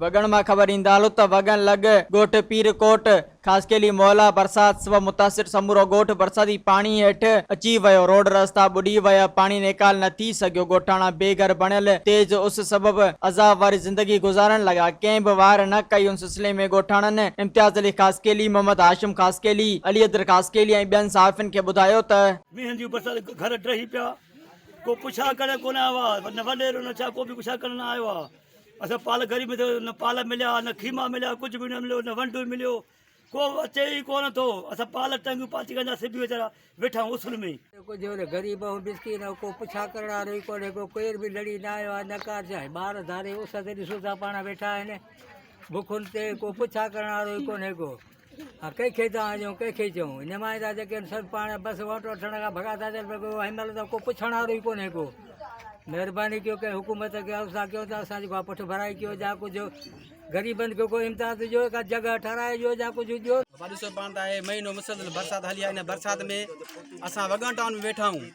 وڳڻ مان خبر ايندالو ته وڳڻ لڳ ڳوٺ پير ڪوٽ خاصخيلي محلا برسات سبب متاثر سمورو ڳوٺ برساتي پاڻي هيٺ اچي ويو روڊ رستا ٻڏي ويا پاڻي نيڪال نه ٿي سگهيو ڳوٺاڻا بي گهر بڻيل تيز اس سبب عذاب واري زندگي گذارڻ لڳا ڪنهن به واهر نه ڪئي سلسلي ۾ ڳوٺاڻن امتياز علي خاصخيلي، محمد هاشم خاصخيلي، علي حيدر خاصخيلي ۽ ٻين صحافين کي ٻڌايو ته. مينهن جي برسات گهر ڊهي پيا ڪو پڇا ڪرڻ ڪونه آيو آ نه وڏيرو نه ڇا ڪو به پڇا ڪرڻ نه آيو آ اسان پال گهري ۾ ٿيو نه پال مليا نه خيما مليا ڪجهه به نه مليو نه ونڊو مليو ڪو اچي ئي ڪونه ٿو اسان پال ٽنگيون پاچي ڪندا سڀ ويچارا ويٺا آهيون اصل ۾. ڪو جو نه غريب ۽ مسڪين ۽ ڪو پڇا ڪرڻ وارو ئي ڪونهي ڪو ڪير به لڙي نه آيو آهي نه ڪا جاء ٻار ڌاري اس تي ڏسو ٿا پاڻ ويٺا آهن بکن تي ڪو پڇا ڪرڻ وارو ئي ڪونهي ڪو ها ڪنهن کي ٿا آجيون ڪنهن کي چئون نمائندا جيڪي آهن سڀ پاڻ بس ووٽ وٺڻ کان ڀڳا ٿا ٿين پر ڪو هن مهل ته ڪو پڇڻ وارو ئي ڪونهي ڪو مهرباني ڪيو ڪنهن حڪومت کي عرض ٿا ڪيون ته اسان جي ڪا پٺڀرائي ڪيو جا ڪجهه غريبن کي ڪو امتياز ڏيو ڪا جڳهه ٺهرائي ڏيو يا ڪجهه ڏيو. اوهان ڏسو پاڻ ته آهي مهينو مسلسل برسات هلي آهي ان برسات ۾ اسان وڳڻ ٽائون ۾ ويٺا آهيون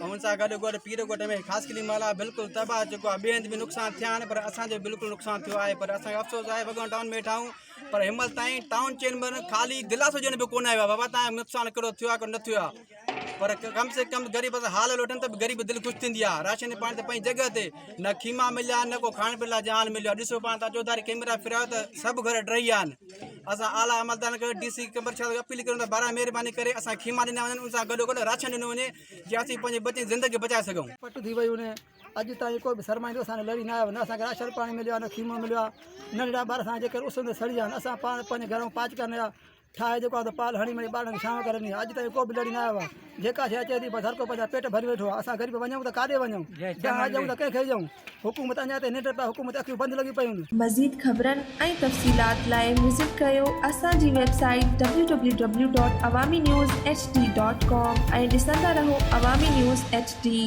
۽ ان سان گڏ گڏ پير ڳوٺ ۾ خاص قلعي محل آهي بلڪل تباهه ٿي چڪو آهي ٻئي هنڌ به نقصان ٿيا آهن پر اسان جو بلڪل نقصان ٿيو آهي پر اسان کي افسوس آهي وڳڻ ٽائون ۾ ويٺا آهيون پر هنمهل تائين ٽائون چيمبر خالي گلاس ڄڻ به ڪونه آيو آهي بابا تايان نقصان ڪهڙو ٿيو آهي ڪهڙو نه ٿيو آهي پر ڪم سي ڪم غريب سان حال لوٽن ته غريب دل خوش ٿيندي آ راشن پاڻي ته پنهنجي جڳهه تي نه خيما مليا نه ڪو کائڻ پيئڻ لاء جهان مليو ڏسو پاڻ تان چوڌاري ڪيمرا ڦيرايو ته سڀ گهر ڊهي ويا آهن اسان اعليٰ عملدارن کي ڊي سي قمبر شاهه کي اپيل ڪريون ته بارا مهرباني ڪري اسان خيما ڏنا وڃن ان سان گڏو گڏ راشن ڏنو وڃي جي اسين پنهنجي بچن جي زندگي بچائي سگهون پٽ ٿي ويون آهن اڄ تائين ڪو به سرمائيندو اسان لڙي نه آيو نه اسان کي راشن پاڻي مليو آهي نه خيمو مليو آهي ننڍڙا ٻار اسان جيڪر اس ۾ سڙي ويا آهن اسان پاڻ پنهنجي گهر ۾ پاچڪا نيا ٺاهي جيڪو آهي سو پال هڻي مڙئي ٻارڙن کي شام ڪري ڏينهن اڄ تائين ڪو به لڙي ناهي آيو آهي جيڪا شيء اچي ٿي بس هر ڪو پنهنجا پيٽ ڀري ويٺو آهي اسان غريب وڃون ته ڪاڏي وڃون جهان ڏيون ته ڪنهن کي ڏيون حڪومت اڃا تائين ننڊ پيا حڪومت جون اکيون بند لڳيون پيون آهن. مزيد خبرن ۽ تفصيلات لاء وزٽ ڪريو اسان جي website W W W dot Awami news H D dot com ۽ ڏسندا رهو عوامي نيوز ايڇ ڊي.